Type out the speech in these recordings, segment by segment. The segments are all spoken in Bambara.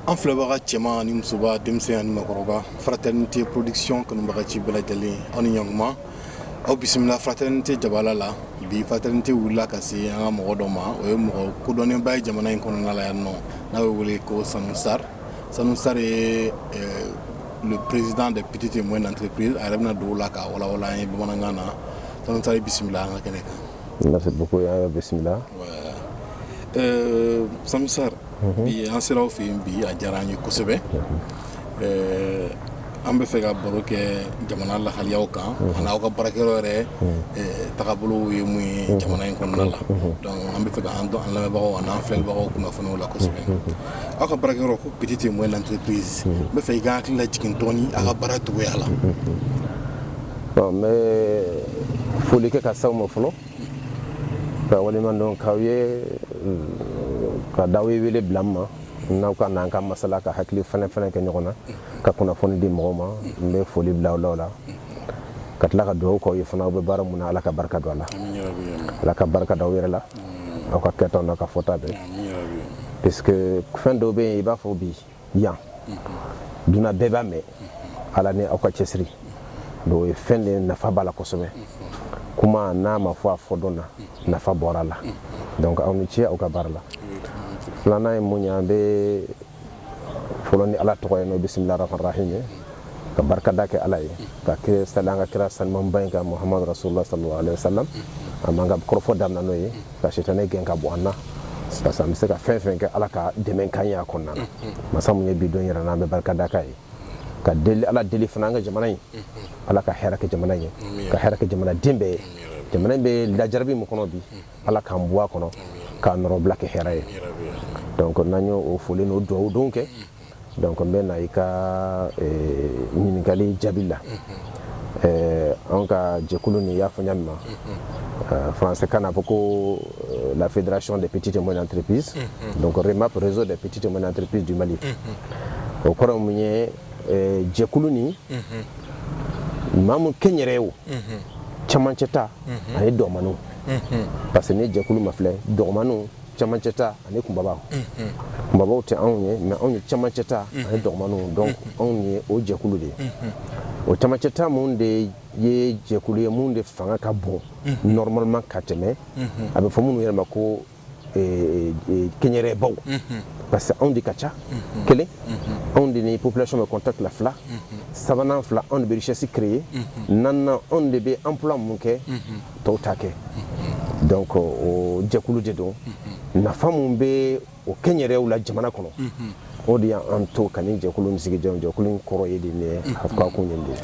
an filɛbaga cɛman ani musoba denmisɛn ani makɔrɔba fraternité production kanubaga ci bɛɛ lajɛlen aw ni ɲankuma aw bisimila fraternité jabala la bi fraternité wulila ka se an ka mɔgɔ dɔ ma o ye mɔgɔ kodɔnnenba ye jamana in kɔnɔna la yan nɔ n'a bɛ wele ko sanu sar sanu sar ye le président des petites et moyennes entreprises a yɛrɛ bɛna don o la k'a walawala an ye bamanankan na sanu sar bisimila an ka kɛnɛ kan Merci beaucoup bisimilah. Sanu Sarr. bi an sera aw fɛ yen bi a diyara an ye kosɛbɛ. an bɛ fɛ ka baro kɛ jamana lahaliyaw kan. ani aw ka baarakɛyɔrɔ yɛrɛ. tagabolo ye mun ye jamana in kɔnɔna la. donc an bɛ fɛ ka an dɔn an lamɛnbagaw ani an filɛbagaw kunnafoni o la kosɛbɛ. aw ka baarakɛyɔrɔ ko petite et moyenne entreprise n bɛ fɛ i ka hakili lajigin dɔɔni a ka baara cogoya la. ɔ n bɛ foli kɛ ka s'aw ma fɔlɔ ka waleɲuman dɔn k'aw ye ka d'aw ye wele bila n ma ne ka n'an ka masala ka hakili falen falen kɛ ɲɔgɔn na ka kunnafoni di mɔgɔw ma n bɛ foli bila aw la o la ka tila ka dugawu k'aw ye fana aw bɛ baara mun na ala ka barika don a la ala ka barika don aw yɛrɛ la aw ka kɛtaw n'aw ka fɔta bɛɛ puisque fɛn dɔw bɛ yen i b'a fɔ bi yan duniya bɛɛ b'a mɛn ala ni aw ka cɛsiri don o ye fɛn de nafa b'a la kosɛbɛ kuma n'a ma fɔ a fɔ don na nafa bɔr'a la donc aw ni ce aw ka baara la filanan ye mun ye an bɛ fɔlɔ ni ala tɔgɔ ye n'o bisimila rahman rahim ye ka barikada kɛ ala ye ka sali an ka kira sanimanba in kan muhammadu rasulullah sallallahu alaihi wasallam an b'an ka kɔrɔfɔ daminɛ n'o ye ka sitani gɛn ka bɔ an na parce que an bɛ se ka fɛn fɛn kɛ ala ka dɛmɛ ka ye a kɔnɔna na masa mun ye bi don yir'an na an bɛ barika da k'a ye ka deli ala deli fana an ka jamana ye ala ka hɛrɛ kɛ jamana ye ka hɛrɛ kɛ jamana den bɛɛ ye jamana in bɛ lajarabi min kɔnɔ bi ala k'an bɔ a kɔnɔ k'a nɔrɔbila kɛ hɛrɛ ye donc n'an y'o foli n'o dugawu don kɛ donc n bɛ na i ka ɲininkali jaabi la anw ka jɛkulu nin y'a fɔ ɲa min ma français kan na fɔ ko la fédération des petites et moyennes entreprises donc remap réseau des petites et moyennes entreprises du mali o kɔrɔ mun ye jɛkulu nin maa mun kɛnyɛrɛw camancɛ ta ani dɔgɔmaninw parce que ni jɛkulu ma filɛ dɔgɔmaninw camancɛ ta ani kunbabaw kunbabaw tɛ anw ye mais anw ye camancɛ ta ani dɔgɔmanw donc anw ye o jɛkulu de ye o camancɛ ta mun de ye jɛkulu ye mun de fanga ka bon normalement ka tɛmɛ a bɛ fɔ minnu yɛrɛ ma ko eh, eh, kɛnyɛrɛbaw parce que anw de ka ca kelen anw de ni population bɛ contact la fila sabanan fila anw de bɛ richesse créer naaninan anw de bɛ emploi mun kɛ tɔw ta kɛ donc o jɛkulu de don nafa min bɛ o kɛnyɛrɛw la jamana kɔnɔ o de y'an to ka nin jɛkulu nin sigi jɛkulu in kɔrɔ ye de a ko kun nin don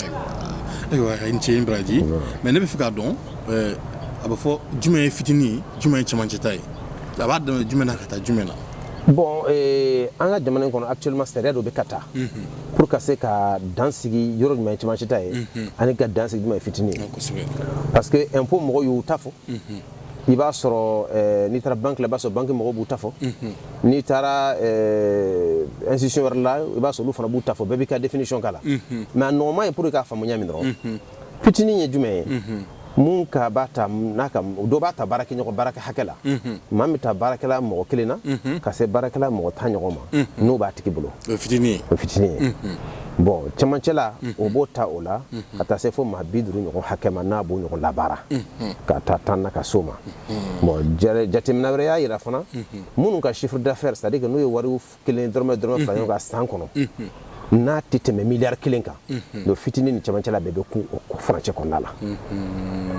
ayiwa i ni ce i ni baraji mais ne b'a fɛ k'a dɔn a bɛ fɔ jumɛn ye fitinin jumɛn ye camancɛ ta ye a b'a daminɛ jumɛn na ka taa jumɛn na bon an ka jamana in kɔnɔ actuellement sariya dɔ bɛ ka ta pour ka se ka dan sigi yɔrɔ jumɛn ye cɛmancɛ ta ye ani ka dan sigi jumɛn ye fitinin ye parce que impôt mɔgɔw y'u ta fɔ i b'a sɔrɔ eh, n'i taara banki la i b'a sɔrɔ banki mɔgɔw b'u ta fɔ n'i taara eh, institution wɛrɛ la i b'a sɔrɔ olu fana b'u ta fɔ bɛɛ b'i ka définition k'a la mais a nɔgɔman ye pour i k'a faamu ɲa min dɔrɔn fitinin ye jumɛn ye mun ka b'a ta n'a ka dɔ b'a ta baarakɛ ɲɔgɔn baarakɛ hakɛ la maa b'a ta baarakɛla mɔgɔ kelen na ka se baarakɛla mɔgɔ tan ɲɔgɔn ma n'o b'a tigi bolo o fitinin o fitinin ye bon cɛmancɛ la o b'o ta o la ka taa se fo maa bi duuru ɲɔgɔn hakɛ ma n'a b'o ɲɔgɔn labaara ka taa tan na ka s'o ma bon jateminɛ wɛrɛ y'a jira fana minnu ka chiffre d'affaires c'est à dire n'u ye wari kelen dɔrɔmɛ dɔrɔmɛ fara ɲɔgɔn kan san kɔnɔ n'a tɛ tɛmɛ miliyari kelen kan donc fitinin ni cɛmancɛ la bɛɛ bɛ kun o furancɛ kɔnɔna la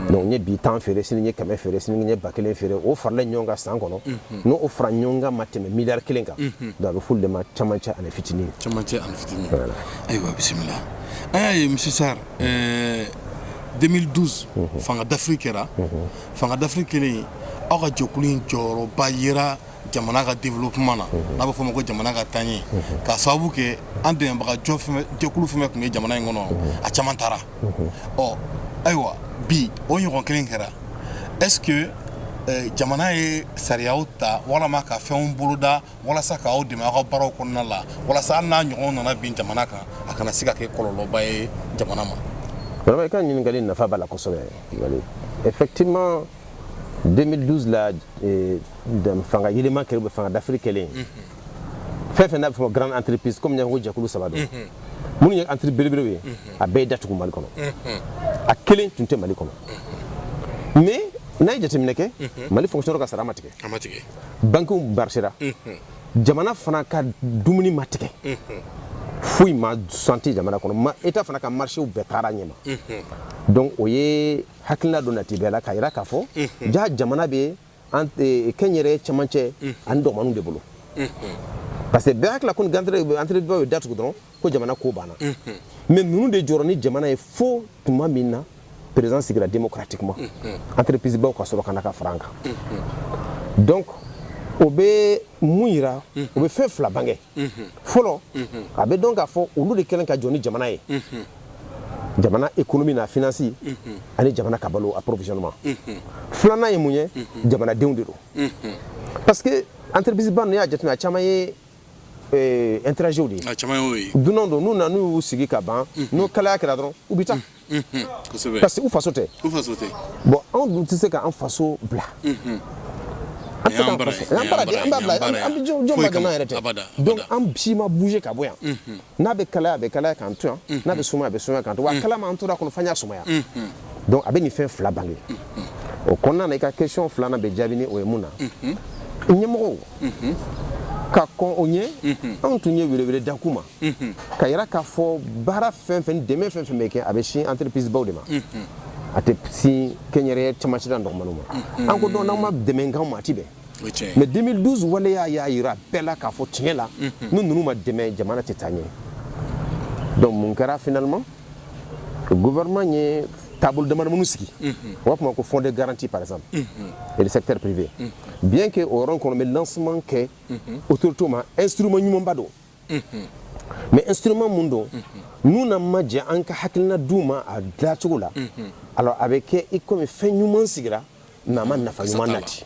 donc n ye bi tan feere sini n ye kɛmɛ feere sini n ye ba kelen feere o farala ɲɔgɔn kan san kɔnɔ n'o o fara ɲɔgɔn kan ma tɛmɛ miliyari kelen kan donc a bɛ f'olu de ma cɛmancɛ ani fitinin cɛmancɛ ani fitinin ayiwa bisimila an y'a ye monsieur Sarr 2012 fanga dafiri kɛra fanga dafiri kɛlen aw ka jɛkulu in jɔyɔrɔba yera jamana ka développement na n'a bɛ fɔ o ma ko jamana ka taaɲɛ ka sababu kɛ an dɛmɛbagajɛkulu fɛn tun bɛ jamana in kɔnɔ a caman taara ɔ ayiwa bi o ɲɔgɔn kelen kɛra est-ce que jamana ye sariya ta walama ka fɛnw boloda walasa k' aw dɛmɛ aw ka baaraw kɔnɔna la walasa hali n'a ɲɔgɔn nana bin jamana kan a kana se ka kɛ kɔlɔlɔba ye jamana ma i ka ɲininkakali nafa b'a la kosɛbɛ effectivement 2012 la eh, fanga yɛlɛma kɛra fanga dafiri kɛlen fɛn fɛn n'a bɛ fɔ grande entreprise comme n ko jɛkulu saba don minnu ye entreprise belebelew ye a bɛɛ ye datugu mali kɔnɔ a kelen tun tɛ mali kɔnɔ mais n'a ye jateminɛ kɛ mali fonctionnaire ka sara ma tigɛ bankiw marchera jamana fana ka dumuni ma tigɛ foyi ma santi jamana kɔnɔ ma état fana ka marché bɛɛ taara ɲɛma donc o ye hakilila dɔ nati bɛɛ la k'a jira k'a fɔ ja jamana bɛ e, kɛnyɛrɛ cɛmancɛ ani dɔgɔninw de bolo parce que bɛɛ hakilila ko ni entrepriseba ye datugu dɔrɔn ko jamana ko banna mais ninnu de jɔra ni jamana ye fo tuma min na président sigira democratiquement entreprisebaw ka sɔrɔ ka na ka fara an kan donc o bɛ mun yira o bɛ fɛn fila bange fɔlɔ a bɛ dɔn k'a fɔ olu de kɛlen ka jɔ ni jamana ye jamana économie n'a finance ani jamana ka balo approvisionnement filanan ye mun ye jamanadenw de don parce que entreprise ba ninnu y'a jateminɛ a caman ye étrangers de ye dunanw don n'u nana n'u y'u sigi ka ban n'o kalaya kɛra dɔrɔn u bɛ taa parce que u faso tɛ bon anw dun tɛ se k'an faso bila an tɛ k'an faso an bara de an b'a bila an bɛ jɔn ma dama yɛrɛ tɛ donc an si ma bouger ka bɔ yan n'a bɛ kalaya a bɛ kalaya k'an to yan n'a bɛ sumaya a bɛ sumaya k'an to wa a kalama an tora a kɔnɔ f'an y'a sumaya donc a bɛ nin fɛn fila bange o kɔnɔna na i ka question filanan bɛ jaabi ni o ye mun na ɲɛmɔgɔw ka kɔn o ɲɛ anw tun ye welewele da k'u ma ka yira k'a fɔ baara fɛn fɛn dɛmɛ fɛn fɛn bɛ kɛ a bɛ sin entreprisebaw de ma a tɛ sin kɛnyɛrɛye camancɛla dɔgɔmaniw ma an ko donc n'aw ma dɛmɛ k'anw ma a tɛ bɛn mais 2012 waleya y'a yira bɛɛ la k'a fɔ tiɲɛ la ni ninnu ma dɛmɛ jamana tɛ taa ɲɛ donc mun kɛra finalement gouvernement ye taabolo dama minnu sigi u b'a fɔ ma ko fonds de garantie par exemple et le secteur privé bien que o yɔrɔ kɔnɔ bɛ lancement kɛ autorité ma instrument ɲumanba don mais instrument mun don n'u n'an ma jɛ an ka hakilina d'u ma a dilacogo la alors a bɛ kɛ i komi fɛn ɲuman sigira mais a ma nafa ɲuman nati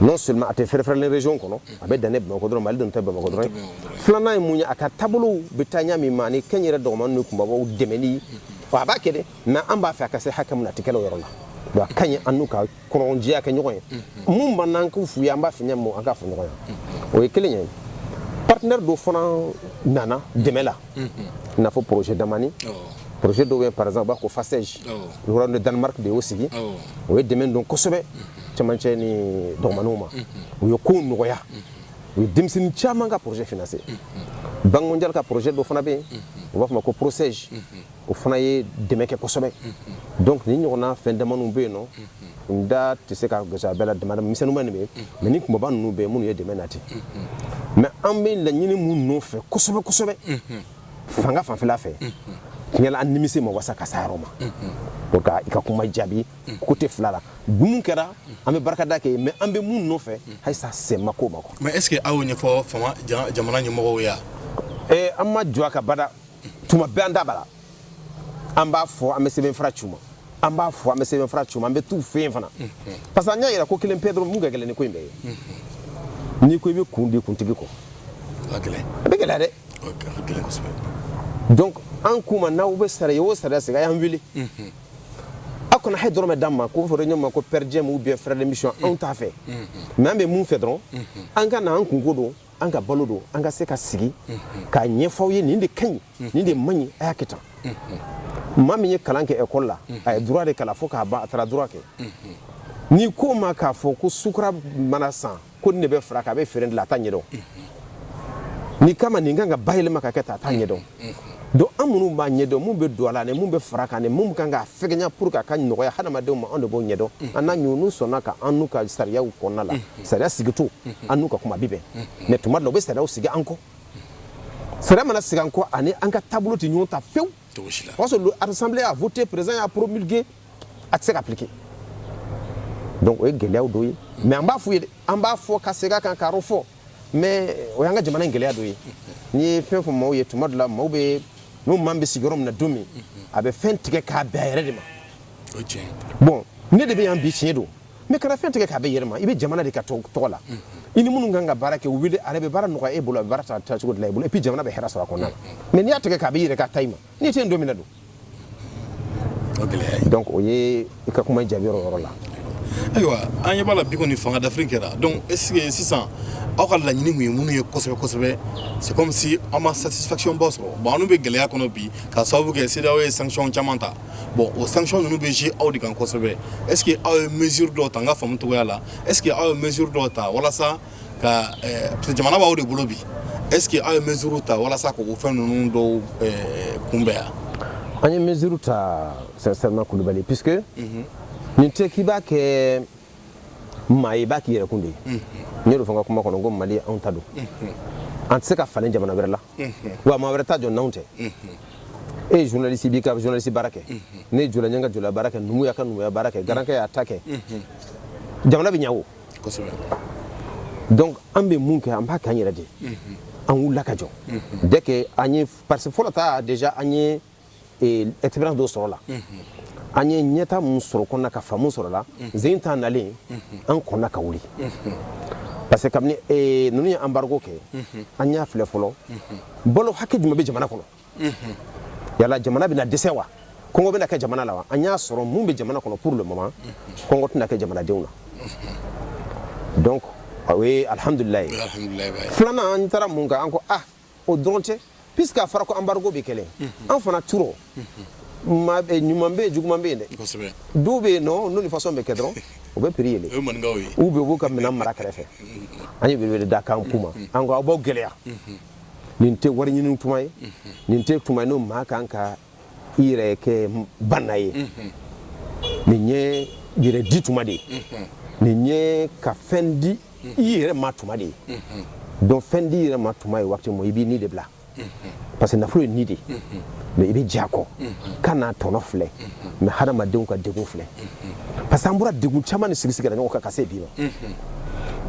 non seulement a tɛ fɛrɛfɛrɛlen région kɔnɔ a bɛ dannen bamakɔ dɔrɔn mali dun tɛ bamakɔ dɔrɔn filanan ye mun ye a ka taabolow bɛ taa ɲa min ma ani kɛnyɛrɛ dɔgɔmani ni kunbabaw dɛmɛni a b'a kɛ dɛ mais an b'a fɛ a ka se hakɛ min na a tɛ kɛlen o yɔrɔ la donc a ka ɲi an n'u ka kɔnɔjɛya kɛ ɲɔgɔn ye mun b'an n'an k'o f'u ye an b'a fɛ ɲɛ mun an k'a fɔ ɲɔgɔn ye o ye kelen ye partenaire dɔ fana nana dɛmɛ la i n'a fɔ projet damani projet dɔw bɛ par exemple u b'a fɔ ko FACEJ royaume de Danemark de y'o sigi o ye dɛmɛ don kosɛbɛ cɛmancɛ ni dɔgɔmaniw ma u ye kow nɔgɔya u ye denmisɛnnin caman ka projet financer banque mondiale ka projet dɔ fana bɛ yen u b'a fɔ ma ko PROCEJ o fana ye dɛmɛ kɛ kosɛbɛ donc ni ɲɔgɔnna fɛn damaniw bɛ yen nɔ n da tɛ se ka gosi a bɛɛ la damada misɛnninba nin bɛ mais ni kunbaba ninnu bɛ yen minnu ye dɛmɛ nati mais an bɛ laɲini mun nɔfɛ kosɛbɛ kosɛbɛ fanga fanfɛla fɛ tiɲɛ la an nimisi ma wasa ka s'a yɔrɔ ma pour ka i ka kuma jaabi côté fila la mun kɛra an bɛ barikada kɛ mais an bɛ mun nɔfɛ halisa se ma k'o ma quoi mais est ce que aw y'o ɲɛfɔ jamana ɲɛmɔgɔw ye wa eh, an ma jɔ a ka bada tuma bɛɛ an da b'a la an b'a fɔ an bɛ sɛbɛnfura c'u ma an b'a fɔ an bɛ sɛbɛnfura c'u ma an bɛ t'u fɛ yen fana parce que an y'a yira ko kelen pe dɔrɔn mun ka gɛlɛn ni ko in bɛɛ ye n'i ko i bɛ kun di kuntigi kɔ a bɛ gɛlɛya dɛ donc an k'u ma n'aw bɛ sariya o sariya sigi a y'an wele aw kana hali dɔrɔmɛ d'an ma k'o fɔ ɲɔgɔn ma ko perdiem ou bien frais de mission anw t'a fɛ mais an bɛ mun fɛ dɔrɔn an ka na an kunko don an ka balo don an ka se ka sigi k'a ɲɛfɔ u ye nin de ka ɲi nin de man ɲi a y'a kɛ tan maa min ye kalan kɛ école la a ye droit de kalan fo k'a ban a taara droit kɛ n'i ko ma k'a fɔ ko sukura mana san ko nin de bɛ fara k'a bɛ feere de la a t'a ɲɛdɔn n'i k'a ma nin kan ka bayɛlɛma ka kɛ tan a t'a ɲɛdɔn Donc an minnu b'a ɲɛdɔn mun bɛ don a la mun bɛ fara a kan mun kan ka fɛgɛnya pour que a ka nɔgɔya hadamadenw ma anw de b'o ɲɛdɔn an na ɲɔgɔn sɔnna ka an n'u ka sariya kɔnɔna la sariya sigitɔ an n'u ka kuma bɛ bɛn mais tuma dɔ la u bɛ sariya sigi an kɔ sariya mana sigi an kɔ a ni an ka taabolo tɛ ɲɔgɔn ta fewu o sɔrɔ don l'assemblée y'a voter président y'a promulguer a tɛ se ka appliquer donc o ye gɛlɛya dɔ ye mais an b'a f'u ye an b'a fɔ ka segin a kan k'a fɔ mais o y'an ka jamana in gɛlɛya dɔ ye n'i ye fɛn fɔ maaw ye tuma dɔ la maaw bɛ n'o maa bɛ sigiyɔrɔ min na don min a bɛ fɛn tigɛ k'a bɛn a yɛrɛ de ma o ye tiɲɛ ye bon ne de bɛ yan bi tiɲɛ don mais kana fɛn tigɛ k'a bɛn i yɛrɛ ma i bɛ jamana de ka tɔ- tɔgɔ la i ni minnu kan ka baara kɛ u wele a yɛrɛ bɛ baara nɔgɔya e bolo a bɛ baara ta taacogo dila i bolo et puis jamana bɛ hɛrɛ sɔrɔ a kɔnɔna na mais n'i y'a tigɛ k'a bɛn i yɛrɛ ka ta ma n'i tɛ yen don min na don donc o ye i ka kuma jaabi yɔrɔ yɔrɔ la ayiwa an ɲɛ b'a la bi kɔni fanga dafiri kɛra donc est ce que sisan aw ka laɲini tun ye minnu ye kosɛbɛ kosɛbɛ c'est comme si aw ma satisfaction ba sɔrɔ bon anw bɛ gɛlɛya kɔnɔ bi ka sababu kɛ CEDEAO ye sanction caman ta bon o sanction ninnu bɛ jouer aw de kan kosɛbɛ est ce que aw ye mesure dɔw ta n ka faamu cogoya la est ce que aw ye mesure dɔw ta walasa ka jamana b'aw de bolo bi est-ce que aw ye mesure ta walasa k'o fɛn ninnu dɔw kunbɛn yan an ye mesure ta sincèrement Kulubali puisque mhm. nin tɛ k'i b'a kɛ maa ye i b'a k'i yɛrɛkun de ye mhm. n y'o de fɔ n ka kuma kɔnɔ ko Mali anw ta don mhm. an tɛ se k'a falen jamana wɛrɛ la wa maa wɛrɛ t'a jɔ n'anw tɛ e ye journaliste b'i ka journaliste baara kɛ ne ye jula ye n ka julaya baara kɛ numu y'a ka numuya baara kɛ garankɛ y'a ta kɛ jamana bɛ ɲɛ o donc an bɛ mun kɛ an b'a kɛ an yɛrɛ de ye an wulila ka jɔ dès que an ye parce que fɔlɔ ta déjà an ye eh, expérience dɔ sɔrɔ a la an ye ɲɛtaa mun sɔrɔ a kɔnɔna ka faamu sɔrɔ a la deuxième ta nalen an kɔnna ka wuli parce que kabini eh, ninnu ye embargo kɛ an y'a filɛ fɔlɔ balo hakɛ jumɛn bɛ jamana kɔnɔ yala jamana bɛna dɛsɛ wa kɔngɔ bɛna kɛ jamana la wa an y'a sɔrɔ mun bɛ jamana kɔnɔ pour le moment kɔngɔ tɛna kɛ jamanadenw na donc o ye alhamdulilayi filanan an taara mun kan an ko ah o dɔrɔn tɛ puisque a fɔra ko embargo bɛ kɛ de an fana cɛ rɔ ɲuman bɛ yen juguman bɛ yen dɛ dɔw bɛ yen nɔ n'o nin façon bɛ kɛ dɔrɔn u bɛ prix yɛlɛn u bɛ u b'u ka minɛn mara kɛrɛfɛ an ye welewele da ka kuma an ko aw b'aw gɛlɛya nin tɛ wari ɲini tuma ye nin tɛ tuma n'o maa kan ka i yɛrɛ kɛ baana ye nin ye yɛrɛ di tuma de ye nin ye ka fɛn di i yɛrɛ ma tuma de ye donc fɛn di yɛrɛ ma tuma ye waati min i b'i ni de bila parce que nafolo ye ni de mais i bɛ jɛ a kɔ kana tɔnɔ filɛ mais hadamadenw ka degun filɛ parce que an bɔra degun caman de sigisigira ɲɔgɔn kan ka se bi ma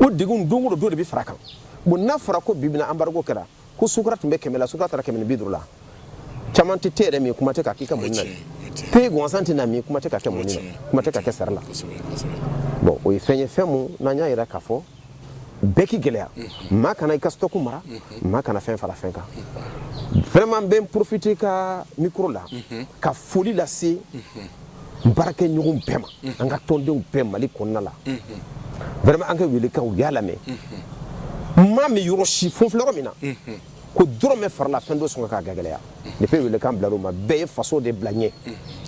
o degun don dɔ de bɛ fara kan bon n'a fɔra ko bi bɛna embargo kɛra ko sukura tun bɛ kɛmɛ la sukura taara kɛmɛ ni bi duuru la caman tɛ te yɛrɛ min kuma tɛ ka k'i ka mɔni na te gansan tɛ na min kuma tɛ ka kɛ mɔni na kuma tɛ ka kɛ sari la bon o ye fɛn ye fɛn mun n'an y'a yira k'a fɔ bɛɛ k'i gɛlɛya mm-hmm. maa kana i ka stock mara mm-hmm. maa kana fɛn fara fɛn kan mm-hmm. vraiment n bɛ n profiter ka micro la ka foli lase n baarakɛ ɲɔgɔn bɛɛ ma an ka tɔndenw bɛɛ Mali kɔnɔna la vraiment an ka welekan u y'a lamɛn n m'a mɛn yɔrɔ si fo filɛ yɔrɔ min na ko dɔrɔmɛ farala fɛn dɔ sɔngɔ kan k'a gɛlɛya depuis welekan bilar'u ma bɛɛ ye faso de bila ɲɛ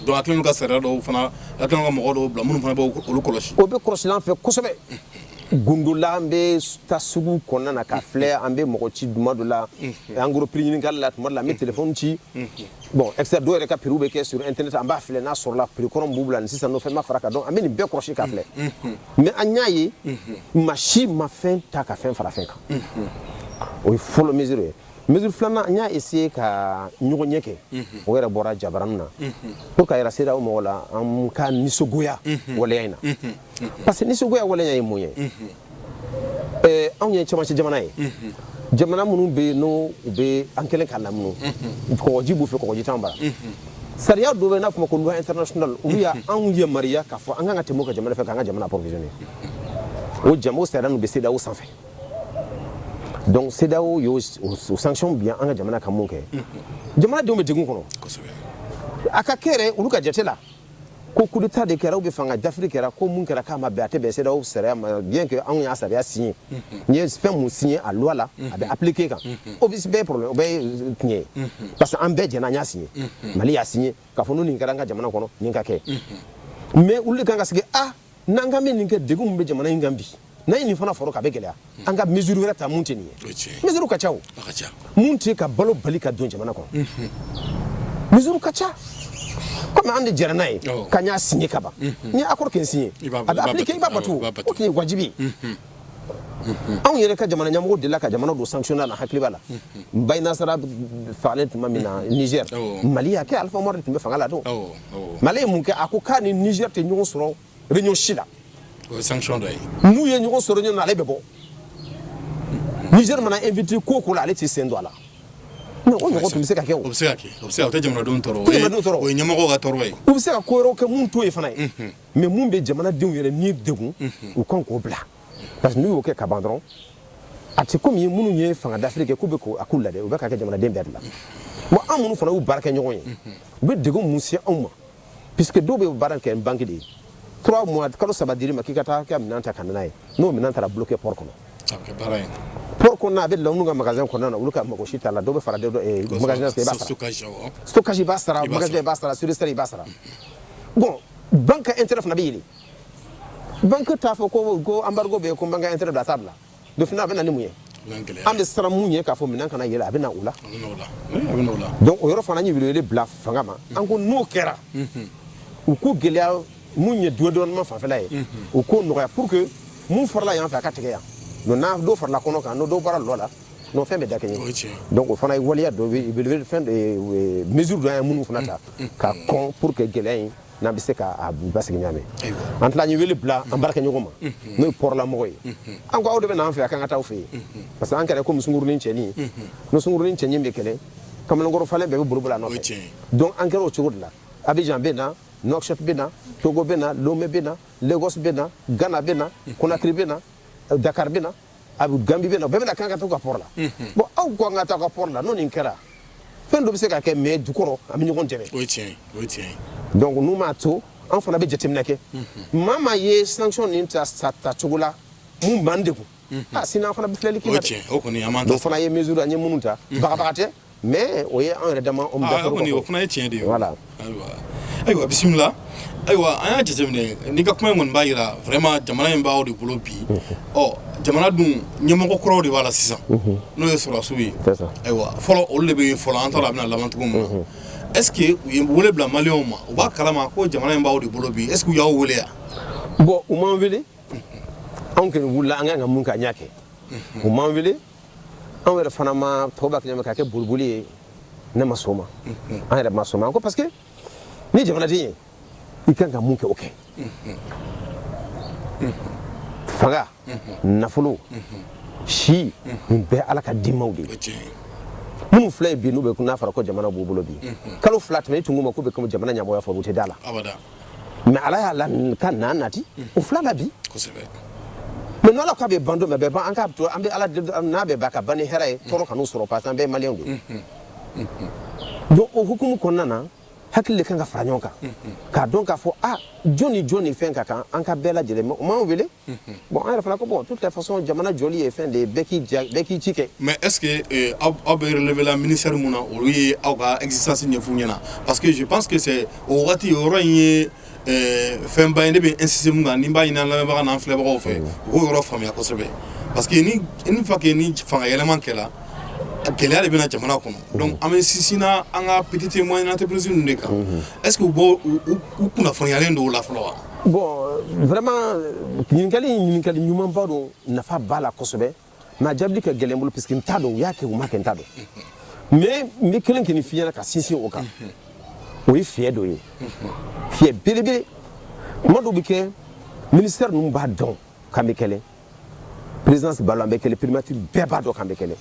donc a kɛlen ka sariya dɔw fana a kɛlen ka mɔgɔ dɔw bila minnu fana bɛ olu kɔlɔsi o bɛ kɔlɔsi an fɛ kosɛbɛ gundo la an bɛ taa sugu kɔnɔna na k'a filɛ an bɛ mɔgɔ ci tuma dɔ la en gros prix ɲininkali la tuma dɔ la an bɛ telefɔni ci bon extra dɔw yɛrɛ ka prix bɛ kɛ sur internet an b'a filɛ n'a sɔrɔla prix kɔrɔ min b'u bolo ni sisan n'o fɛn ma fara kan donc an bɛ nin bɛɛ kɔlɔsi k'a filɛ mais an y'a ye maa si ma fɛn ta ka fɛn fara fɛn kan o ye fɔlɔ mesure ye mesure filanan an y'a essayer ka ɲɔgɔnye kɛ o yɛrɛ bɔra jabaranin na pour k'a yira CEDEAO mɔgɔw la an ka nisɔngoya waleya in na parce que nisɔngoya waleya ye mun ye eh, anw ye cɛmancɛ jamana ye jamana minnu bɛ yen n'u bɛ an kɛlen ka lamunu kɔgɔji b'u fɛ kɔgɔji t'an bara sariya dɔ bɛ n'a fɔ ma ko loi international olu y'anw yamaruya k'a fɔ an kan ka tɛmɛ u ka jamana fɛ k'an ka jamana approvisionner o jamu sariya ninnu bɛ CEDEAO sanfɛ donc CEDEAO y'o sanction bin an ka jamana kan mun kɛ jamanadenw bɛ degun kɔnɔ a ka kɛ yɛrɛ olu ka jate la ko coup d'état de kɛra ou bien fanga dafiri kɛra ko mun kɛra k'a ma bɛn a tɛ bɛn CEDEAO sariya ma bien que anw y'a sariya signé n'i ye fɛn mun signé a loi la a bɛ appliquer kan o bɛ bɛɛ problème o bɛɛ ye euh, tiɲɛ ye parce que an bɛɛ jɛna an y'a signé Mali y'a signé k'a fɔ n'o nin kɛra an ka jamana kɔnɔ nin ka kɛ mais olu de kan ka sigi a ah, n'an ka min nin kɛ degun mun bɛ jamana in kan bi n'a ye nin fana fara kan a bɛ gɛlɛya an ka mesure wɛrɛ ta mun tɛ nin ye mesure ka ca o mun tɛ ka balo bali ka don jamana kɔnɔ mesure ka ca comme an de jɛra n'a ye k'an y'a signé ka ban n'i ye accord kelen signé a bɛ appliquer i b'a bato o tun ye wajibi ye. anw yɛrɛ ka jamana ɲamɔgɔ delila ka jamana don sanction na hakili b'a la Maïnassara fagalen tuma min na Niger Mali y'a kɛ Alpha Umaru de tun bɛ fanga la don mais ale ye mun kɛ a ko k'a ni Niger tɛ ɲɔgɔn sɔrɔ réunion si la o ye sanction dɔ ye n'u ye ɲɔgɔn sɔrɔ réunion na ale bɛ bɔ Niger mana invité ko o ko la ale t'i sen don a la mais o ɲɔgɔn tun bɛ se ka kɛ o o bɛ se ka kɛ o tɛ jamanadenw tɔɔrɔ o ye ɲɛmɔgɔw ka tɔɔrɔ ye u bɛ se ka ko wɛrɛw kɛ mun t'o ye fana ye. mais mun bɛ jamanadenw yɛrɛ ni degun u kan k'o bila parce que n'u y'o kɛ ka ban dɔrɔn a tɛ komi minnu ye fanga dafiri kɛ k'u bɛ ko a k'u lajɛ u bɛ ka kɛ jamanaden bɛɛ de la bon an minnu fana y'u baarakɛɲɔgɔn ye u bɛ degun mun se anw ma puisque dɔw bɛ baara kɛ banque de ye trois mois kalo saba dir'i ma k'i ka taa ka minɛn ta ka na n'a ye n'o minɛn taara bloqué port kɔnɔ port kɔnɔna a bɛ olu ka magasin kɔnɔna na olu ka mago si t'a la dɔw bɛ fara eh, magasin i b'a sara stockage i b'a sara surestarie i b'a sara bon banque ka intérêt fana bɛ yɛlɛ banque t'a fɔ ko ko embargo bɛ yen ko banque ka intérêt bila a t'a bila donc finalement a bɛ na ni mun ye an bɛ siran mun ye k'a fɔ minɛn kana yɛlɛ a bɛ na o la donc o yɔrɔ fana an ye welewele bila fanga ma an ko n'o kɛra u ko gɛlɛya mun ye dédouanement fanfɛla ye u k'o nɔgɔya pour que mun farala yan fɛ a ka tigɛ yan donc n'a dɔ farala kɔnɔ kan n'o dɔ bɔra lɔ la n'o fɛn bɛ dakɛɲɛ donc o fana ye waleya dɔ fɛn mesure dɔ an ye minnu fana ta ka kɔn pour que gɛlɛya in n'an bɛ se k'a basigi ɲa min an tila an ye wele bila an baarakɛɲɔgɔn ma n'o ye port lamɔgɔ ye an ko aw de bɛ n'an fɛ yan k'an ka taa aw fɛ yen parce que an kɛra komi sungurunnin cɛɲi ni sungurunnin cɛɲi bɛ kɛlɛ kamalenkɔrɔ falen bɛɛ bɛ boliboli a nɔfɛ donc an kɛra o cogo de la Abidjan bɛ na Nouakchott bɛ na Togo bɛ na Lomé bɛ na Lagos bɛ na Ghana bɛ na Conakry bɛ na Dakar bɛ na a bɛ Gambie bɛ na bɛɛ bɛ na k'an ka taa u ka port la bon aw ko an ka taa aw ka port la n'o nin kɛra fɛn dɔ bɛ se ka kɛ mais dukɔrɔ an bɛ ɲɔgɔn dɛmɛ donc n'u m'a to an fana bɛ jateminɛ kɛ maa maa ye sanction nin ta sa ta cogo la mun b'an degun sinon an fana bɛ filɛli kɛ o kɔni fana ye mesure an ye minnu ta bagabaga tɛ Mais o ye anw yɛrɛ dama o fana ye tiɲɛ de ye ayiwa ayiwa bisimila ayiwa an y'a jateminɛ n'i ka kuma in kɔni b'a jira vraiment jamana in b'aw de bolo bi ɔ jamana dun ɲɛmɔgɔ kuraw de b'a la sisan n'o ye sɔrɔdasiw ye ayiwa fɔlɔ olu de bɛ yen fɔlɔ an t'a dɔn a bɛna laban cogo min na est-ce que u ye wele bila maliyɛnw ma u b'a kalama ko jamana in b'aw de bolo bi est-ce que u y'aw wele yan bon u m'an wele anw kɔni wulila an kan ka mun kɛ an y'a kɛ u m'an wele anw yɛrɛ fana ma tɔw b'a kɛ k'a kɛ boliboli ye ne ma sɔn o ma an yɛrɛ ma sɔn ma ko parce que ni jamanaden ye i kan ka mun kɛ o kɛ fanga nafolo si nin bɛɛ ala ka dimaw de ye minnu filɛ ye bi n'u bɛ n'a fɔra ko jamana b'u bolo bi kalo fila tɛmɛ i tun ma k'u bɛ jamana ɲamɔgɔya fɔ u tɛ da a la mais ala y'a lakana nati o fila na bi mais n'ala k'a bɛ ban don min a bɛ ban an k'a to an bɛ ala n'a bɛ ban ka ban ni hɛrɛ ye tɔɔrɔ kan'u sɔrɔ parce que an bɛɛ maliyɛn don donc o hukumu kɔnɔna na hakili de kan ka fara ɲɔgɔn kan k'a dɔn k'a fɔ a jɔn ni jɔn ni fɛn ka kan an ka bɛɛ lajɛlen o m'an wele bon an yɛrɛ fana ko bon toute les façons jamana jɔli ye fɛn de ye bɛɛ k'i ja bɛɛ k'i ci kɛ mais est ce que euh, aw aw bɛ relever la ministère mun na olu ye aw ka existence ɲɛf'u ɲɛna parce que je pense que c'est o wagati o yɔrɔ in ye euh, fɛnba ye ne bɛ insister mun kan ni n b'a ɲini an lamɛnbaga n'an filɛbagaw fɛ u k'o yɔrɔ faamuya kosɛbɛ parce que ni une fois que ni fanga yɛlɛma kɛla gɛlɛya de bɛ na jamana kɔnɔ donc an bɛ sinsinna an ka petite et moyenne entreprise ninnu de kan est ce que u b'o u u- u kunnafoniyalen don o la fɔlɔ wa bon vraiment ɲininkali in ɲininkali ɲumanba don nafa b'a la kosɛbɛ mais a jaabili ka gɛlɛn n bolo puisque n t'a dɔn u y'a kɛ u m'a kɛ n t'a dɔn mais n bɛ kelen kɔni f'i ɲɛna ka sinsin o kan o ye fiyɛ dɔ ye fiyɛ belebele kuma dɔw bɛ kɛ ministère ninnu b'a dɔn k'an bɛ kɛlɛ présidence b'a la an bɛ kɛlɛ primature bɛɛ b'a dɔn k'an bɛ kɛlɛ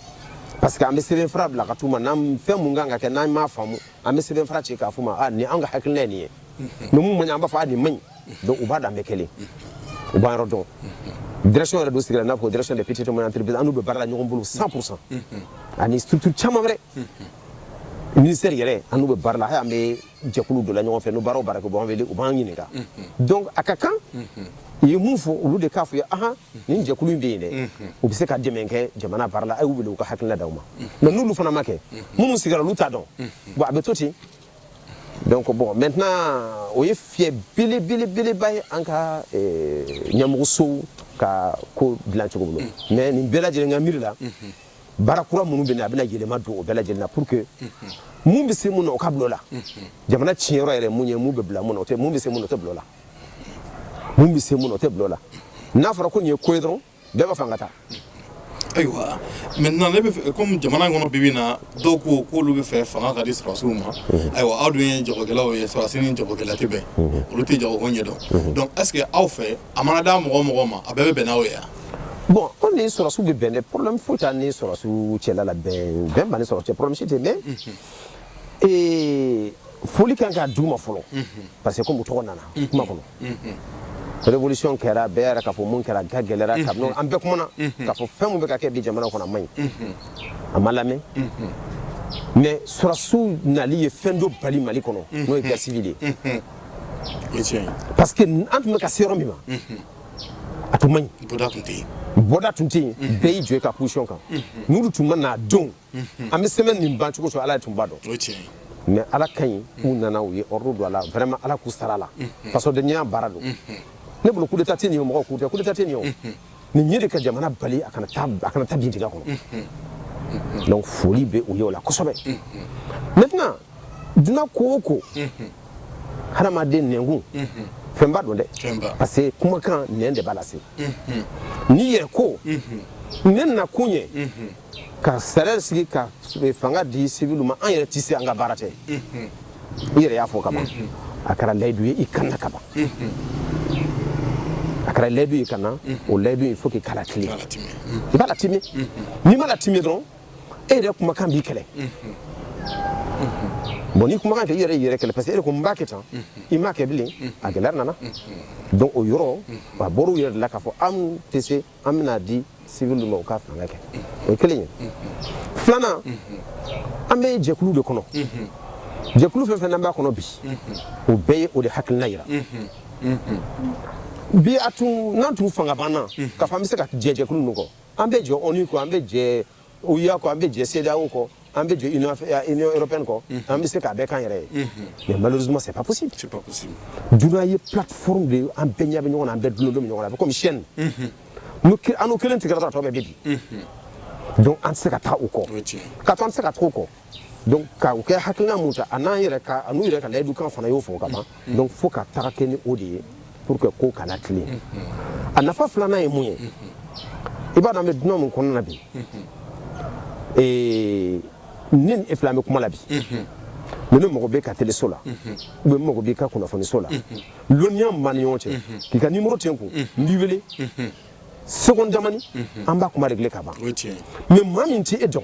parce que an bɛ sɛbɛnfura bila ka t'u ma n'an fɛn mun kan ka kɛ n'an m'a faamu an bɛ sɛbɛn fara ci k'a fɔ ma ni an ka hakililɛ nin ye numu man an b'a fɔ a ni man ɲi u b'a dan bɛ kelen u b'a yɔrɔ dɔn dɛrɛsi yɛrɛ don sigira n'a fɔ dɛrɛsi de pti an bɛ baara la ɲɔgɔn bolo san san ani sutu caman wɛrɛ minisɛri yɛrɛ an bɛ baara la an bɛ jɛkulu don ɲɔgɔn fɛ n' baara baara b'an wele u b'an ɲininka dɔn a ka kan u ye mun fɔ olu de k'a fɔ ye aɔn nin jɛkulu in bɛ yen dɛ u bɛ se ka dɛmɛ kɛ jamana baara la a y'u wele u ka hakilina d'aw ma mais n'olu fana m'a kɛ minnu sigira olu t'a dɔn bon a bɛ to ten donc bon maintenant o ye fiyɛ belebelebeleba ye an ka ɲɛmɔgɔsow ka ko dilan cogo bolo mais nin bɛɛ lajɛlen ka miiri la baara kura minnu bɛ na a bɛna yɛlɛma don o bɛɛ lajɛlen na pour que mun bɛ se mun na o ka bila o la jamana tiɲɛyɔrɔ yɛrɛ mun ye mun bɛ bila mun na o tɛ mun bɛ se mun na o tɛ bila o la mun bɛ se mun na o tɛ bila o la n'a fɔra ko nin ye ko ye dɔrɔn bɛɛ b'a fɔ an ka taa ayiwa maintenant ne bɛ comme jamana in kɔnɔ bi bi in na dɔw ko k'olu b'a fɛ fanga ka di sɔrɔdasiw ma ayiwa aw dun ye jagokɛlaw ye sɔrɔdasi ni jagokɛla tɛ bɛn olu tɛ jago ko ɲɛ dɔn donc est ce que aw fɛ a mana di mɔgɔ o mɔgɔ ma a bɛɛ bɛ bɛn n'aw ye yan bon anw ni sɔrɔdasiw bɛ bɛn dɛ problème foyi t'an ni sɔrɔdasiw cɛla la bɛn b'an ni sɔrɔdasiw cɛ problème si tɛ mais ee foli kan ka d'u ma fɔlɔ parce que comme u tɔgɔ nana kuma kɔnɔ révolution kɛra bɛɛ yɛrɛ k'a fɔ mun kɛra a gɛlɛyara kabini an bɛɛ kumana k'a fɔ fɛn mun bɛ ka kɛ bi jamana kɔnɔ a man ɲi a ma lamɛn mais sɔrɔdasiw nali ye fɛn dɔ bali mali kɔnɔ n'o ye guerre civile de ye parce que an tun bɛ ka se yɔrɔ min ma a tun man ɲi bɔda tun tɛ yen bɛɛ y'i jɔ i ka position kan n'olu tun ma na don an bɛ semaine nin ban cogo ala tun b'a dɔn mais ala ka ɲi u nana u ye ordre don a la vraiment ala k'u sara la fasodenya baara don ne bolo coup d'état tɛ nin ye mɔgɔ k'u coup d'état tɛ nin nin ye de ka jamana bali a kana a kana taa bin dingɛ kɔnɔ donc foli bɛ u ye o la kosɛbɛ maintenant duniya ko o ko hadamaden nɛnkun fɛnba don dɛ parce que kumakan n de b'a lase n'i yɛrɛ ko ne nakun ye ka sariya sigi ka fanga di siviliw ma an yɛrɛ tɛ se an ka baara tɛ i yɛrɛ y'a fɔ ka ban a kɛra layidu ye i kanna ka ban a kɛra layidu ye ka na o layidu il faut que i k'a latime i b'a latime n'i m'a latime dɔrɔn e yɛrɛ kumakan b'i kɛlɛ bon ni kumakan kɛ i yɛrɛ yɛrɛ kɛlɛ parce que e de ko n b'a kɛ tan i m'a kɛ bilen a gɛlɛya nana donc o yɔrɔ a bɔr'u yɛrɛ de la k'a fɔ an tɛ se an bɛn'a di sivili de ma u ka fanga kɛ o ye kelen ye filanan an bɛ jɛkulu de kɔnɔ jɛkulu fɛn fɛn n'an b'a kɔnɔ bi o bɛɛ ye o de hakilina yira bi a tun n'an tun fanga banna k'a fɔ an bɛ se ka jɛ jɛkulu ninnu kɔ an bɛ jɛ ONU kɔ an bɛ jɛ OUA kɔ an bɛ jɛ CEDEAO kɔ an bɛ jɛ Union européenne kɔ an bɛ se k'a bɛɛ k'an yɛrɛ ye mais malheureusement c'est pas possible duniya ye plateforme de ye an bɛɛ ɲɛ bɛ ɲɔgɔn na an bɛɛ dulolen bɛ ɲɔgɔn na a bɛ comme chaîne an n'u kelen tigɛra dɔrɔn a tɔ bɛɛ bɛ bin donc an tɛ se ka taa u kɔ ka to an tɛ se ka taa u kɔ donc ka u kɛ hakilina mun ta a n'an yɛrɛ ka a n'u yɛrɛ ka layidukan fana y'o fɔ ka ban mm. donc fo ka taga kɛ ni o de ye pour que ko ka na tilen mm-hmm. a nafa filanan ye mun ye mm-hmm. i b'a dɔn an bɛ duniya min kɔnɔna na bi mm-hmm. ne ni e fila an bɛ kuma la bi ni ne mago b'i ka teleso la ou bien ne mago b'i ka kunnafoniso la lɔnniya min b'an ni ɲɔgɔn cɛ k'i ka nimoro tɛ n kun n b'i wele seconde damani an b'a kuma réglé ka ban mais maa min tɛ e dɔn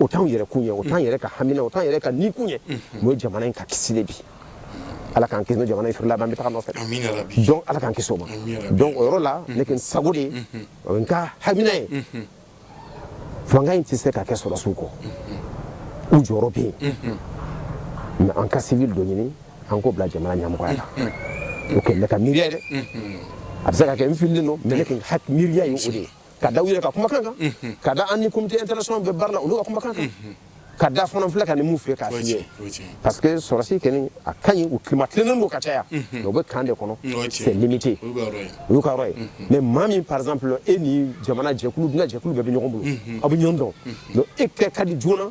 o t'anw yɛrɛ kun ye o t'an yɛrɛ ka hamina o t'an yɛrɛ ka ni kun ye o ye jamana in ka kisi de bi ala k'an kisi ni jamana in firila an bɛ taga nɔfɛ donc ala k'an kisi o ma donc o yɔrɔ la ne kɛ n sago de ye o ye n ka hamina ye fanga in tɛ se ka kɛ sɔrɔsiw kɔ u jɔyɔrɔ bɛ yen mais an ka sivili dɔ ɲini an k'o bila jamana ɲɛmɔgɔya la o kɛ ne ka miiriya dɛ a bɛ se ka kɛ n fililen don mais ne kɛ miiriya ye o de ye ka da u yɛrɛ ka kumakan kan ka da an ni comité international bɛ baara la olu ka kumakan kan ka da fana filɛ ka nin mun fɛ k'a f'i ye parce que sɔrɔsi kɔni a ka ɲi u climat tilennen don ka caya mais u bɛ camp de kɔnɔ c'est limité o y'u ka yɔrɔ ye mais maa min par exemple e ni jamana jɛkulu duniya jɛkulu bɛɛ bɛ ɲɔgɔn bolo aw bɛ ɲɔgɔn dɔn donc e kɛ ka di joona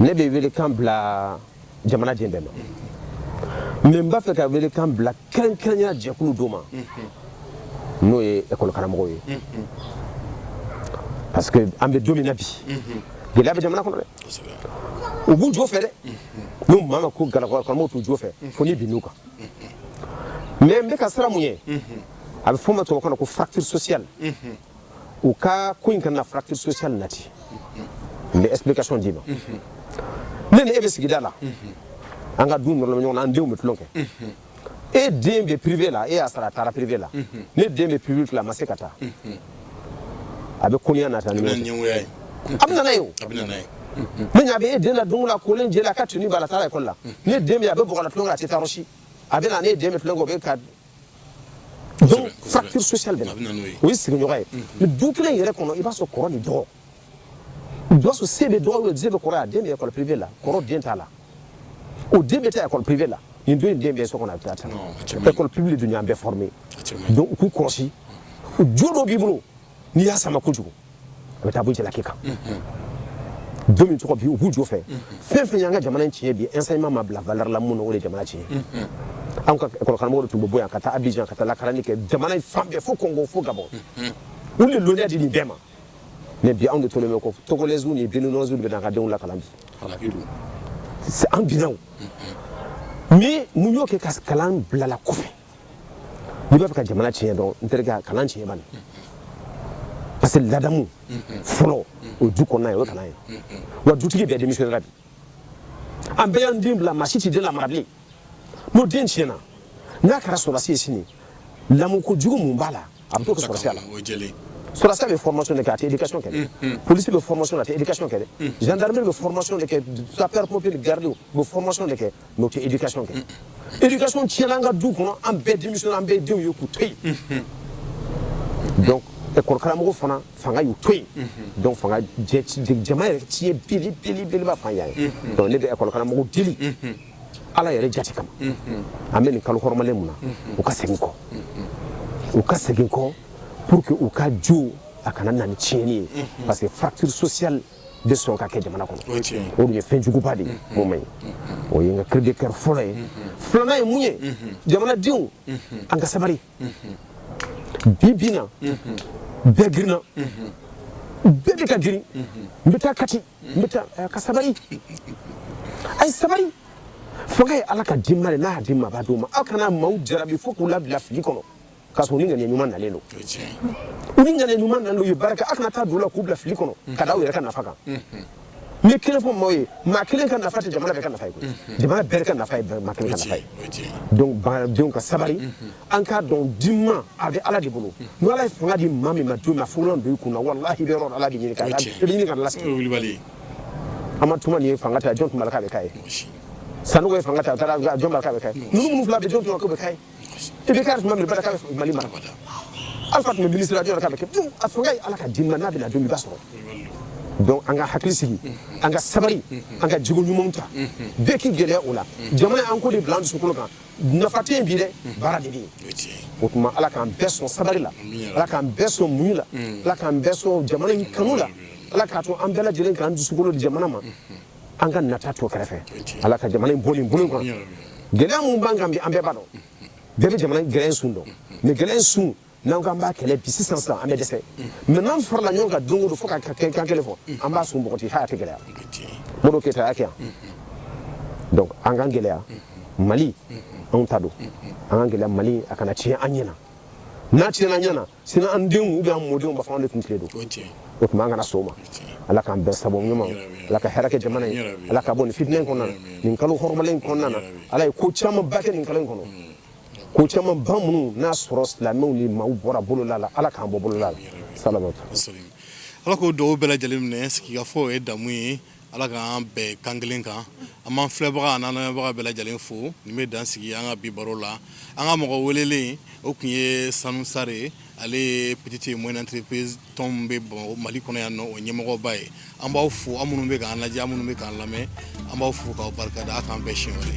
ne bɛ welekan bila jamana den bɛɛ ma mais n b'a fɛ ka welekan bila kɛrɛnkɛrɛnya jɛkulu dɔ ma n'o ye école karamɔgɔw ye parce que an bɛ don min na bi gɛlɛya bɛ jamana kɔnɔ dɛ u b'u jo fɛ dɛ ni maa min ko école karamɔgɔw t'u jo fɛ fo n'i binn'u kan mais n bɛ ka siran mun ɲɛ a bɛ f'o ma tubabukan na ko fracture sociale u ka ko in kana fracture sociale nati n bɛ explication d'i ma ne ni e bɛ sigida la an ka du nɔrɔla ɲɔgɔn na an denw bɛ tulon kɛ e den bɛ privé la e y'a sara a taara privé la ne den bɛ public la a ma se ka taa a bɛ koniya nata ni ɲɛngoya ye a bɛ na n'a ye o a bɛ na n'a ye ne ɲa bɛ e den na don la kolen jɛlen a ka tenue b'a la a taara école la ne den bɛ a bɛ bɔgɔ la tulon kɛ a tɛ taa yɔrɔ si a bɛ na ne den bɛ tulon kɛ o bɛ ka Donc fracture sociale bɛ na, a bɛ na n'o ye, o ye sigiɲɔgɔn ye, mais du kelen yɛrɛ kɔnɔ i b'a sɔrɔ kɔrɔ ni dɔgɔ, i b'a sɔrɔ se bɛ dɔgɔ ye, se bɛ kɔrɔ ye, a den bɛ école privée la, kɔrɔ den t'a la, o den bɛ taa école privée la, nin dɔ in den bɛ so kɔnɔ a bɛ taa tan, école publique dun y'an bɛɛ former donc u k'u kɔlɔsi, jo dɔ b'i bolo n'i y'a sama kojugu a bɛ taa bɔ jalaki kan don min tɔgɔ bi u b'u jo fɛ fɛn fɛn y'an ka jamana in tiɲɛ bi enseignement ma bila valeur la mun na o de ye jamana tiɲɛ anw ka école karamɔgɔ de tun bɛ bɔ yan ka taa Abidjan ka taa lakalanni kɛ jamana in fan bɛɛ fo Congo fo Gabon u de lɔnniya di nin bɛɛ ma mais bi anw de tolen bɛ kɔ togolais ni béninois de bɛ n'an ka denw lakalan bi an binna o mais mun y'o kɛ ka kalan bilala kɔfɛ n'i b'a fɛ ka jamana tiɲɛ dɔn n terikɛ a kalan tiɲɛ bani parce que ladamu fɔlɔ o du kɔnɔna ye o ye kalan ye wa dutigi bɛɛ démissionnera bi an bɛɛ y'an den bila maa si tɛ den lamara bilen n'o den tiɲɛna n'a kɛra sɔrɔdasi ye sini lamɔko jugu mun b'a la a bɛ t'o kɛ sɔrɔdasiya la sɔrɔdasiya bɛ formation de kɛ a tɛ éducation kɛ dɛ polisi bɛ formation a tɛ éducation kɛ dɛ gendarmerie bɛ formation de kɛ sapeur pompier garde bɛ formation de kɛ mais o tɛ éducation kɛ éducation tiɲɛna an ka du kɔnɔ an bɛɛ démissionnera an bɛ denw ye k'u to yen donc école karamɔgɔ fana fanga y'u to yen donc fanga jama yɛrɛ tiɲɛ belebeleba fan yan ye donc ne bɛ école karamɔgɔ deli ala yɛrɛ jati kama an bɛ nin kalo hɔrɔmalen mun na u ka segin kɔ u ka segin kɔ pour que u ka jo a kana na ni tiɲɛni ye parce que fracture sociale bɛ sɔn ka kɛ jamana kɔnɔ o dun ye fɛn juguba de ye mun man ɲi o ye n ka cri de cœur fɔlɔ ye filanan ye mun ye jamanadenw an ka sabari bi bi in na bɛɛ girinna bɛɛ bɛ ka girin n bɛ taa kati n bɛ taa ka sabari a ye sabari fanga ye ala ka di ma de n'a y'a di ma a b'a d'o ma aw kana maaw jarabi fo k'u labila fili kɔnɔ k'a sɔrɔ u ni ŋaniya ɲuman nalen don u ni ŋaniya ɲuman nalen don u ye baara kɛ a kana taa don o la k'u bila fili kɔnɔ ka da aw yɛrɛ ka nafa kan n ye kelen fɔ maaw ye maa kelen ka nafa tɛ jamana bɛɛ ka nafa ye jamana bɛɛ ka nafa ye maa kelen ka nafa ye donc baaradenw ka sabari an k'a dɔn di n ma a bɛ ala de bolo ni ala ye fanga di maa min ma don min a fugulan don i kun na walahi i bɛ yɔrɔ ala de ɲini ka i bɛ ɲini k'a lasegin amadu tumani ye fanga ta jɔn tun b'a la k'a bɛ k'a ye sanogo ye fanga ta a taara jɔn b'a la k'a bɛ k'a ye ninnu minnu fila bɛ jɔn tun b'a la k'o bɛ k'a ye IBK tuma min b'a la k'a bɛ mali mara alpha tun bɛ ministre la jɔn tun b'a la k'a bɛ kɛ donc a fanga ye ala ka di n ma n'a bɛ na don min i b'a sɔrɔ donc an ka hakili sigi an ka sabari an ka jogo ɲumanw ta bɛɛ k'i gɛlɛya o la jamana in ko de bila an dusukolo kan nafa tɛ yen bi dɛ baara de bɛ yen o tuma ala k'an bɛɛ sɔn sabari la ala k'an bɛɛ sɔn muɲu la ala k'an bɛɛ sɔn jamana in kanu la ala k'a to an bɛɛ lajɛlen k'an dusukolo di jamana ma an ka nata to kɛrɛfɛ ala ka jamana in bɔ nin bolo kan gɛlɛya min b'an kan bi an bɛɛ b'a dɔn bɛɛ bɛ jamana gɛlɛya sun dɔn mais gɛlɛya sun n'an k'an b'a kɛlɛ bi sisan sisan an bɛ dɛsɛ mais n'an farala ɲɔgɔn kan don o don fo ka kan kelen fɔ an b'a sun bɔgɔti foyi tɛ gɛlɛya modibo keyita y'a kɛ yan donc an k'an gɛlɛya mali anw ta don an k'an gɛlɛya mali a kana tiɲɛ an ɲɛna n'a tiɲɛna an ɲɛna sini an denw ou bien an mɔdenw b'a fɔ anw de tun tile don o tuma an kana sɔn o ma ala k'an bɛɛ sababu ɲuman ala ka hɛrɛ kɛ jamana ye ala k'a bɔ nin fitinɛ in kɔnɔ nin kalo hɔrɔmalen kɔnɔna na ala ye ko caman ba kɛ nin kalo kɔnɔ ko caman ba minnu n'a sɔrɔ silamɛw ni maa bɔra bolola la ala k'an bɔ bolola la sa ala k'o duwaw bɛɛ lajɛlen minɛ sigikafɔ o ye damu ye Ala k'an bɛn kan kelen kan an b'an filɛbaga n'an lamɛnbaga bɛɛ lajɛlen fo nin bɛ dan sigi an ka bi baro la an ka mɔgɔ welelen o tun ye sanu sar ale ye petite et moyenne entreprise tɔn min bɛ mali kɔnɔ yan nɔ o ɲɛmɔgɔba ye an b'aw fo aw minnu bɛ k'an lajɛ aw minnu bɛ k'an lamɛn an b'aw fo k'aw barika da k'an bɛn siɲɛ wɛrɛ